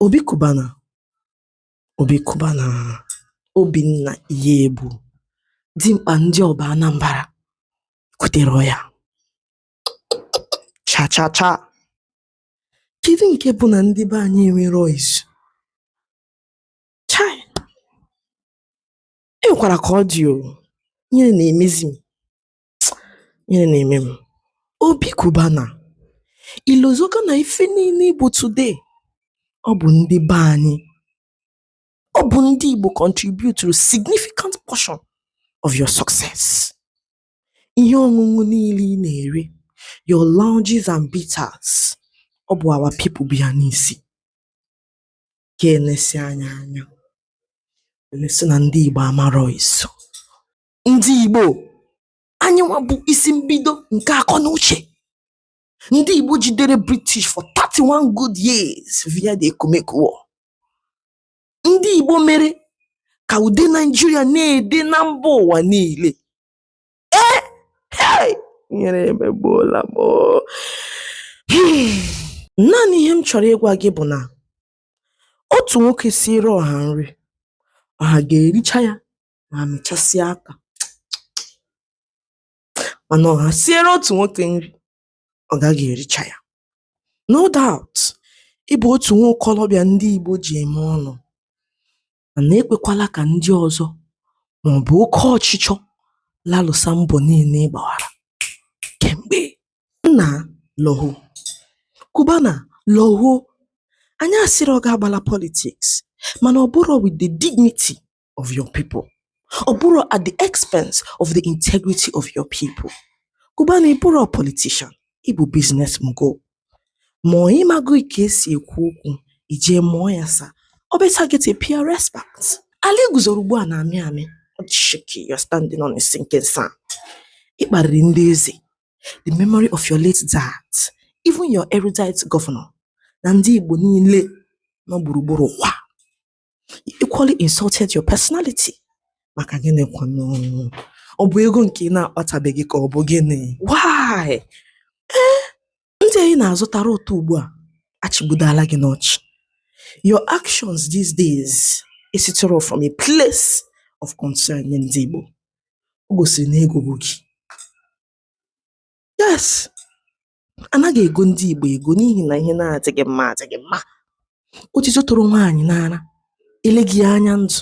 Obi Cubana Obi Cubana Obinna Iyiegbu dimkpa ndị Ọba Anambra kwutere ya cha cha cha kedu nke bụ na ndị be anyị enwerọ izu chai enwekwara ka ọ dị o ihere na-emezi m ihere na-eme m obi Cubana ilozoka na ife niile ị bụ today ọ bụ ndị be anyị ọ bụ ndị igbo contribute to a significant portion of your success ihe ọṅụṅụ niile ị na-ere your lounges and bitters ọ bụ our people bu ya n'isi ka elesi anya anya elesi na ndị igbo amarọ izu ndị Igbo anyị nwa bụ isi mbido nke akọ na uche ndị Igbo jidere British for 31 good years via the Ekumeku War ndị Igbo mere ka ude Naijiria na-ede na mba ụwa niile ee hey! ihere emegbuola m naanị ihe m chọrọ ịgwa gị bụ na otu nwoke siere ọha nri ọha ga-ericha ya ma mịchasịa aka mana ọha siere otu nwoke nri ọ gaghị ericha ya no doubt ị bụ otu nwa okolobịa ndị Igbo ji eme ọnụ mana ekwekwala ka ndị ọzọ maọbụ oke ọchịchọ lalụsa mbọ niile ị gbawara kemgbe nna lọho Cubana lọho anyị asịrọ gị agbala politics mana ọ bụrọ with the dignity of your people ọ bụrọ at the expense of the integrity of your people Cubana ị bụrọ politician ị bụ business mogul ma ị maghị ka esi ekwu okwu i jee mụọ ya sir or better get a PR expert ala i guzoro ugbu a na-amị amị shaky you're standing on a sinking sand ị kparịrị ndị eze the memory of your late dad even your erudite governor na ndị Igbo niile nọ gburugburu ụwa you equally insulted your personality maka gịnị kwanụ ọ bụ ego nke ị na-akpatabeghị ka ọ bụ gịnị why ee eh, ndị anyị na-azụtara ụtọ ugbu a achịgbudala gị n'ọchị your actions these days esiterọ from a place of concern nye ndị Igbo o gosiri na ego bu gị yes anaghị ego ndị Igbo ego n'ihi na ihe na-adịghị mma adịghị mma otito tụrụ nwaanyị n'ara eleghị anya ndụ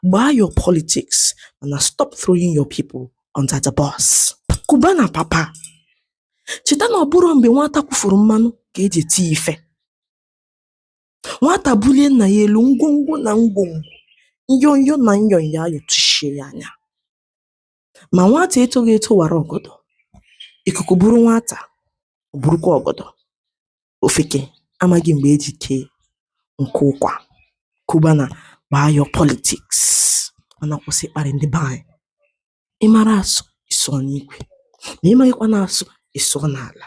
gbaa your politics mana stop throwing your people under the bus Cubana papa cheta na ọ bụrọ mgbe nwata kwufuru mmanụ ka eji eti ife nwata bulie nna ya elu ngwongwo na ngwongwo nyo nyo na nyo nyo ayọtụshie ya anya Ma nwata etoghị eto wara ọgọdọ, ikuku buru nwata, ọ burukwa ọgọdọ. Ofeke amaghị mgbe e ji kee nkụ ụkwa. Cubana gbaa your politics mana kwụsị ịkparị ndị be anyị. Ị mara asụ, ị sụọ n'ikwe. Ma ị maghịkwa na-asụ, ị sụọ n'ala.